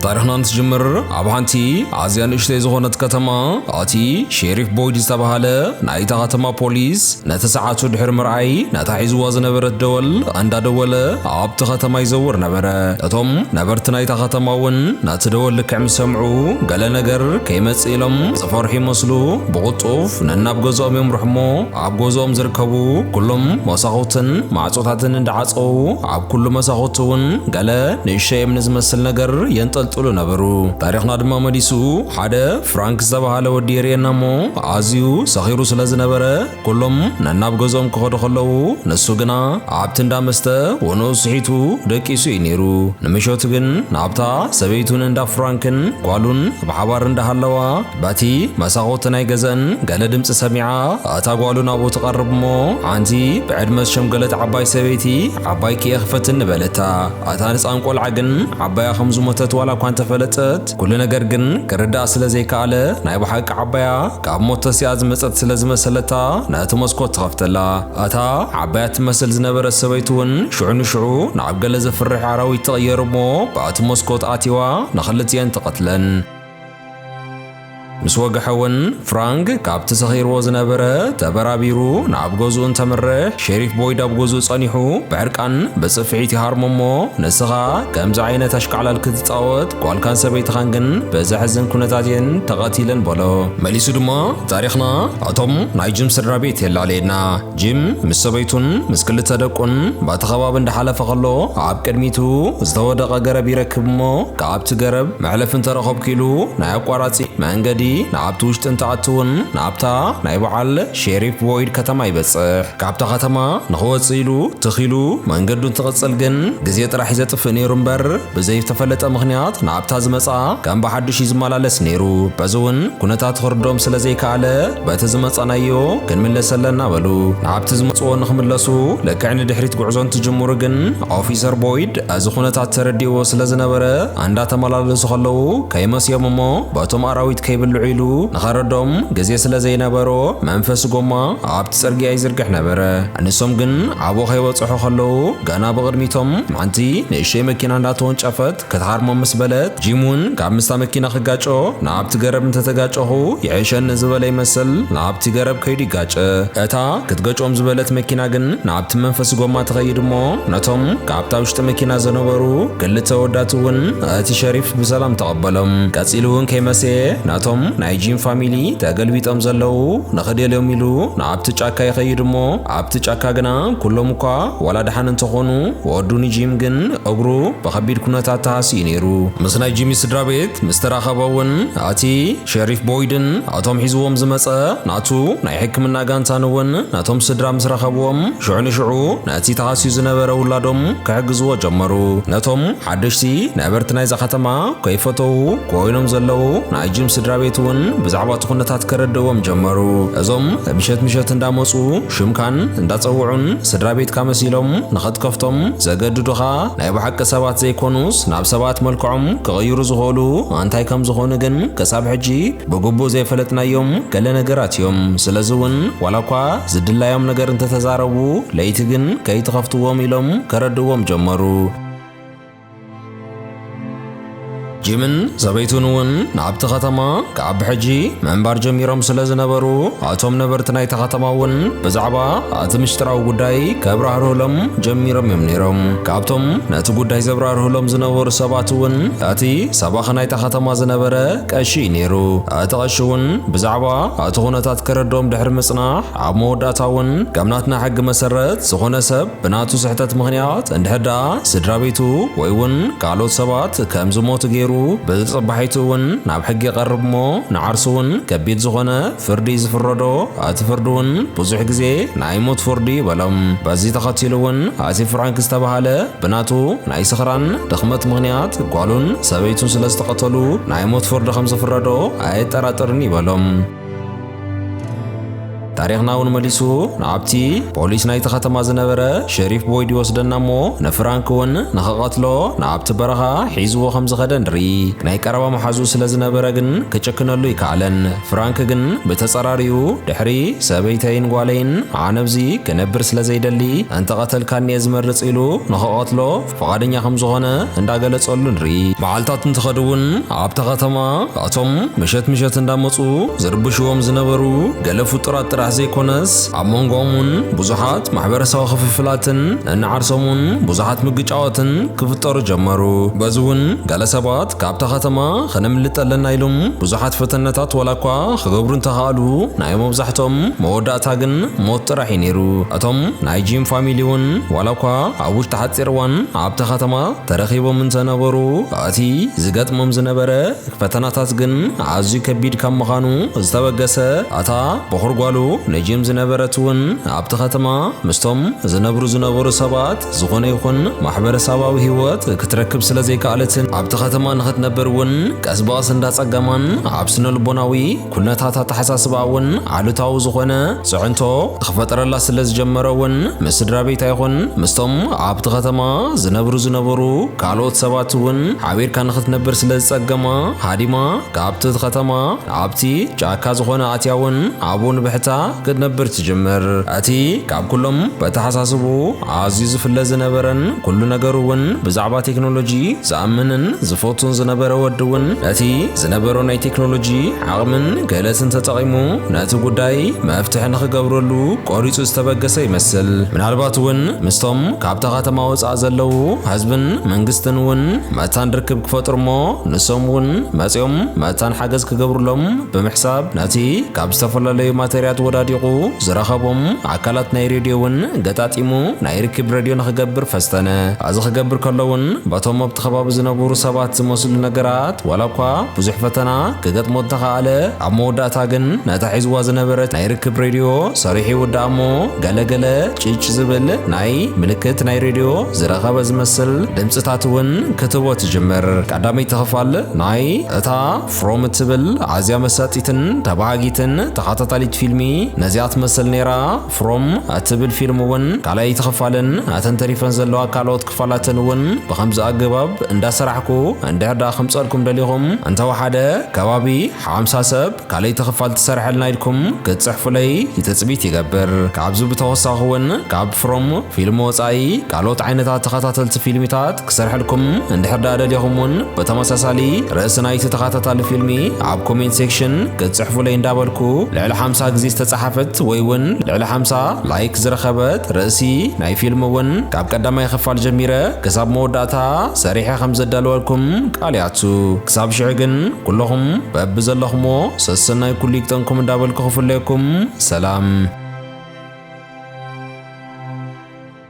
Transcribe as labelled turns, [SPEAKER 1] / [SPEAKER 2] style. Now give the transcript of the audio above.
[SPEAKER 1] ታሪኽና እንትጅምር ኣብ ሓንቲ ኣዝያ ንእሽተይ ዝኾነት ከተማ እቲ ሼሪፍ ቦይድ ዝተባሃለ ናይታ ከተማ ፖሊስ ነቲ ሰዓቱ ድሕሪ ምርኣይ ነታ ሒዝዋ ዝነበረት ደወል እንዳደወለ ኣብቲ ከተማ ይዘውር ነበረ። እቶም ነበርቲ ናይታ ከተማ እውን ነቲ ደወል ልክዕ ምስ ሰምዑ ገለ ነገር ከይመጽእ ኢሎም ዝፈርሑ ይመስሉ ብቕልጡፍ ነናብ ገዝኦም የምርሑ እሞ ኣብ ገዝኦም ዝርከቡ ኩሎም መሳኹትን ማዕጾታትን እንዳዓጸዉ ኣብ ኩሉ መሳኹቲ እውን ገለ ንእሸ እምኒ ዝመስል ነገር የንጠልጥሉ ነበሩ። ታሪኽና ድማ መሊሱ ሓደ ፍራንክ ዝተባህለ ወዲ የርእየና እሞ ኣዝዩ ሰኺሩ ስለ ዝነበረ ኩሎም ነናብ ገዝኦም ክኸዱ ከለዉ ንሱ ግና ኣብቲ እንዳ መስተ ወንኡ ስሒቱ ደቂሱ እዩ ነይሩ። ንምሸቱ ግን ናብታ ሰበይቱን እንዳ ፍራንክን ጓሉን ብሓባር እንዳሃለዋ በቲ መሳኹቲ ናይ ገዘን ገለ ድምፂ ሰሚዓ ኣታ ጓሉ ናብኡ ትቐርብ እሞ ሓንቲ ብዕድመ ዝሸምገለት ዓባይ ሰበይቲ ዓባይኪ እየ ክፈትኒ በለታ። ኣታ ንፃን ቆልዓ ግን ዓባያ ከም ዝሞተት ዋላ እኳ እንተፈለጠት ኩሉ ነገር ግን ክርድኣ ስለ ዘይከኣለ ናይ ብሓቂ ዓባያ ካብ ሞት ተሲኣ ዝመፀት ስለ ዝመሰለታ ነቲ መስኮት ትኸፍተላ። ኣታ ዓባያ ትመስል ዝነበረት ሰበይቲ እውን ሽዑ ንሽዑ ናብ ገለ ዘፍርሕ ኣራዊት ትቕየር እሞ በቲ መስኮት ኣትይዋ ንኽልቲኤን ትቐትለን። ምስ ወግሐ እውን ፍራንክ ካብቲ ሰኺርዎ ዝነበረ ተበራቢሩ ናብ ገዝኡ እንተምርሕ ሼሪፍ ቦይድ ኣብ ገዝኡ ጸኒሑ ብዕርቃን ብጽፍዒት ይሃርሞ እሞ ንስኻ ከምዚ ዓይነት ኣሽካዕላል ክትጻወት ጓልካን ሰበይትኻን ግን ብዘሕዝን ኩነታት እየን ተቐቲለን በሎ። መሊሱ ድማ ታሪኽና እቶም ናይ ጅም ስድራ ቤት የላለየና ጂም ምስ ሰበይቱን ምስ ክልተ ደቁን ባቲ ከባቢ እንዳሓለፈ ከሎ ኣብ ቅድሚቱ ዝተወደቐ ገረብ ይረክብ እሞ ካብቲ ገረብ መሕለፊ እንተረኸብኩ ኢሉ ናይ ኣቋራጺ መንገዲ ናብቲ ውሽጢ እንትኣትውን ናብታ ናይ በዓል ሼሪፍ ቦይድ ከተማ ይበጽሕ። ካብታ ከተማ ንኽወጽእ ኢሉ ትኽ ኢሉ መንገዱ እንትቕጽል ግን ግዜ ጥራሕ እዩ ዘጥፍእ ነይሩ እምበር ብዘይተፈለጠ ምኽንያት ናብታ ዝመጽኣ ከም ብሓዱሽ እዩ ዝመላለስ ነይሩ። በዚ እውን ኩነታቱ ክርድኦም ስለዘይከኣለ በቲ ዝመጻናዮ ክንምለስ ኣለና በሉ። ናብቲ ዝመጽዎ ንክምለሱ ልክዕ ንድሕሪት ጉዕዞ እንትጅምሩ ግን ኦፊሰር ቦይድ እዚ ኩነታት ተረዲዎ ስለ ዝነበረ እንዳተመላለሱ ከለዉ ከይመስዮም እሞ በቶም ኣራዊት ከይብልዑ ኢሉ ንኸረዶም ግዜ ስለ ዘይነበሮ መንፈስ ጎማ ኣብቲ ጽርግያ ይዝርግሕ ነበረ። ንሶም ግን ኣብኡ ከይበጽሑ ከለዉ ገና ብቕድሚቶም ሓንቲ ንእሽተይ መኪና እንዳተወንጨፈት ክትሃርሞ ምስ በለት፣ ጂም እውን ካብ ምስታ መኪና ክጋጮ ናብቲ ገረብ እንተ ተጋጨኹ ይሕሸኒ ዝበለ ይመስል ናብቲ ገረብ ከይዱ ይጋጨ። እታ ክትገጮም ዝበለት መኪና ግን ናብቲ መንፈሲ ጎማ ትኸይድ እሞ ነቶም ካብታ ውሽጢ መኪና ዘነበሩ ክልተ ወዳት እውን እቲ ሸሪፍ ብሰላም ተቐበሎም። ቀጺሉ እውን ከይመሰየ ነቶም ናይ ጂም ፋሚሊ ተገልቢጦም ዘለዉ ንኽደልዮም ኢሉ ናብቲ ጫካ ይኸይድ እሞ ኣብቲ ጫካ ግና ኩሎም እኳ ዋላ ደሓን እንተኾኑ፣ ወዱ ንጂም ግን እግሩ ብኸቢድ ኩነታት ተሃስዩ ነይሩ። ምስ ናይ ጂሚ ስድራቤት ምስ ተራኸበ እውን ኣቲ ሸሪፍ ቦይድን ኣቶም ሒዝዎም ዝመጸ ናቱ ናይ ሕክምና ጋንታን እውን ነቶም ስድራ ምስ ረኸብዎም ሽዑ ንሽዑ ነቲ ተሃስዩ ዝነበረ ውላዶም ክሕግዝዎ ጀመሩ። ነቶም ሓደሽቲ ነበርቲ ናይዛ ከተማ ከይፈተዉ ኮይኖም ዘለዉ ናይ ጂም ስድራ ቤት እውን ብዛዕባ እቲ ኩነታት ከረድእዎም ጀመሩ። እዞም ምሸት ምሸት እንዳመፁ ሽምካን እንዳፀውዑን ስድራ ቤትካ መሲሎም ንኽትከፍቶም ዘገድዱኻ ናይ ብሓቂ ሰባት ዘይኮኑስ ናብ ሰባት መልክዖም ክቕይሩ ዝኽእሉ ኣንታይ ከም ዝኾኑ ግን ክሳብ ሕጂ ብግቡእ ዘይፈለጥናዮም ገለ ነገራት እዮም። ስለዚ እውን ዋላ እኳ ዝድላዮም ነገር እንተተዛረቡ ለይቲ ግን ከይትኸፍትዎም ኢሎም ከረድእዎም ጀመሩ። ጂምን ሰበይቱን እውን ናብቲ ከተማ ካብ ብሕጂ ምንባር ጀሚሮም ስለ ዝነበሩ ኣቶም ነበርቲ ናይቲ ከተማ እውን ብዛዕባ እቲ ምሽጥራዊ ጉዳይ ከብራህርህሎም ጀሚሮም እዮም ነይሮም ካብቶም ነቲ ጉዳይ ዘብራርህሎም ዝነበሩ ሰባት እውን እቲ ሰባኺ ናይታ ከተማ ዝነበረ ቀሺ እዩ ነይሩ እቲ ቀሺ እውን ብዛዕባ እቲ ኩነታት ከረድኦም ድሕሪ ምጽናሕ ኣብ መወዳእታ እውን ከም ናትና ሕጊ መሰረት ዝኾነ ሰብ ብናቱ ስሕተት ምኽንያት እንድሕር ደኣ ስድራ ቤቱ ወይ እውን ካልኦት ሰባት ከም ዝሞቱ ገይሩ ብጽባሒቱ እውን ናብ ሕጊ ይቐርብ እሞ ንዓርሱ እውን ከቢድ ዝኾነ ፍርዲ እዩ ዝፍረዶ። እቲ ፍርዲ እውን ብዙሕ ግዜ ናይ ሞት ፍርዲ እዩ በሎም። በዚ ተኸቲሉ እውን እቲ ፍራንክ ዝተባህለ ብናቱ ናይ ስኽራን ድኽመት ምኽንያት ጓሉን ሰበይቱን ስለ ዝተቐተሉ ናይ ሞት ፍርዲ ከም ዝፍረዶ ኣየጠራጥርን እዩ በሎም። ታሪኽና እውን መሊሱ ናብቲ ፖሊስ ናይቲ ከተማ ዝነበረ ሸሪፍ ቦይድ ይወስደና እሞ ንፍራንክ እውን ንኽቐትሎ ናብቲ በረኻ ሒዝዎ ከም ዝኸደ ንርኢ ናይ ቀረባ መሓዙ ስለ ዝነበረ ግን ክጭክነሉ ይከኣለን ፍራንክ ግን ብተጸራሪኡ ድሕሪ ሰበይተይን ጓለይን ኣነብዚ ክነብር ስለ ዘይደሊ እንተቐተልካኒ እየ ዝመርጽ ኢሉ ንኽቐትሎ ፍቓደኛ ከም ዝኾነ እንዳገለጸሉ ንርኢ። መዓልታት እንትኸድ እውን ኣብታ ከተማ እቶም ምሸት ምሸት እንዳመጹ ዝርብሽዎም ዝነበሩ ገለ ፍጡራት ጥራሕ ዘይኮነስ ኣብ መንጎኦም እውን ብዙሓት ማሕበረሰባዊ ክፍፍላትን እንዓርሶም እውን ብዙሓት ምግጫዋትን ክፍጠሩ ጀመሩ። በዚ እውን ገለ ሰባት ካብታ ከተማ ከነምልጥ ኣለና ኢሎም ብዙሓት ፈተነታት ዋላ እኳ ክገብሩ እንተኸኣሉ ናይ መብዛሕትኦም መወዳእታ ግን ሞት ጥራሕ እዩ ነይሩ። እቶም ናይ ጂም ፋሚሊ እውን ዋላ እኳ ኣብ ውሽጢ ሓጺር እዋን ኣብታ ከተማ ተረኺቦም እንተ ነበሩ፣ እቲ ዚገጥሞም ዝነበረ ፈተናታት ግን ኣዝዩ ከቢድ ካብ ምዃኑ ዝተበገሰ፣ እታ በዅሪ ጓሉ ንጂም ዝነበረት እውን ኣብቲ ኸተማ ምስቶም ዚነብሩ ዝነበሩ ሰባት ዝዀነ ይኹን ማሕበረሰባዊ ህይወት ክትረክብ ስለ ዘይከኣለትን፣ ኣብቲ ኸተማ ንኽትነብር እውን ቀስ ብቐስ እንዳ ኣጸገማን ኣብ ስነ-ልቦናዊ ኩነታት ኣተሓሳስባኣ እውን ኣሉታዊ ዝኾነ ፅዕንቶ ክፈጠረላ ስለ ዝጀመረ እውን ምስ ስድራ ቤት ኣይኹን ምስቶም ኣብቲ ከተማ ዝነብሩ ዝነበሩ ካልኦት ሰባት እውን ሓቢርካ ንክትነብር ስለ ዝፀገማ ሃዲማ ካብቲ እቲ ከተማ ኣብቲ ጫካ ዝኾነ ኣትያ እውን ኣብኡ ንብሕታ ክትነብር ትጅምር። እቲ ካብ ኩሎም በተሓሳስብኡ ኣዝዩ ዝፍለ ዝነበረን ኩሉ ነገሩ እውን ብዛዕባ ቴክኖሎጂ ዝኣምንን ዝፈቱን ዝነበረ ወዲ እውን ነቲ ዝነበሮ ናይ ቴክኖሎጂ ዓቕምን ክእለትን ተጠቒሙ ነቲ ጉዳይ መፍትሒ ንኽገብረሉ ቆሪፁ ዝተበገሰ ይመስል። ምናልባት እውን ምስቶም ካብታ ከተማ ወፃእ ዘለዉ ህዝብን መንግስትን እውን መታን ርክብ ክፈጥሩ እሞ ንሶም እውን መፂኦም መታን ሓገዝ ክገብሩሎም ብምሕሳብ ነቲ ካብ ዝተፈላለዩ ማተርያት ወዳዲቑ ዝረኸቦም ኣካላት ናይ ሬድዮ እውን ገጣጢሙ ናይ ርክብ ረድዮ ንክገብር ፈስተነ። ኣዚ ክገብር ከሎ እውን በቶም ኣብቲ ከባቢ ዝነቡሩ ሰባት ዝመስሉ ነገራት ዋላ እኳ ብዙሕ ፈተና ክገጥሞ እንተኸኣለ ኣብ መወዳእታ ግን ነታ ሒዝዋ ዝነበረት ናይ ርክብ ሬድዮ ሰሪሑ ይውድኣ እሞ ገለ ገለ ጭጭ ዝብል ናይ ምልክት ናይ ሬድዮ ዝረኸበ ዝመስል ድምጽታት እውን ክትህቦ ትጅምር። ቀዳመይቲ ክፋል ናይ እታ ፍሮም እትብል ኣዝያ መሳጢትን ተባሃጊትን ተኻታታሊት ፊልሚ ነዚኣ ትመስል ነይራ። ፍሮም እትብል ፊልም እውን ካልኣይቲ ክፋልን እተን ተሪፈን ዘለዋ ካልኦት ክፋላትን እውን ብኸምዚ ኣገባብ እንዳሰራሕኩ እንድሕር ደኣ ከምጸልኩም ደሊኹም እንተወሓደ ከባቢ ሓምሳ ሰብ ካልኣይቲ ክፋል ትሰርሐልና ኢልኩም ክትጽሕፉለይ ትጽቢት ይገብር። ካብዚ ብተወሳኺ እውን ካብ ፍሮም ፊልም ወጻኢ ካልኦት ዓይነታት ተኸታተልቲ ፊልሚታት ክሰርሐልኩም እንድሕር ደኣ ደሊኹም እውን ብተመሳሳሊ ርእሲ ናይቲ ተኸታታሊ ፊልሚ ኣብ ኮሜንት ሴክሽን ክትጽሕፉለይ እንዳበልኩ ልዕሊ ሓምሳ ግዜ ዝተጻሓፈት ወይ እውን ልዕሊ ሓምሳ ላይክ ዝረኸበት ርእሲ ናይ ፊልም እውን ካብ ቀዳማይ ኽፋል ጀሚረ ክሳብ መወዳእታ ሰሪሐ ከም ዘዳልወልኩም ቃል ይኣቱ ክሳብ ሽዑ ግን ኩለኹም በቢ ዘለኹሞ ሰሰናይ ኩሉ ይግጠምኩም እንዳበልኩ ክፍለየኩም ሰላም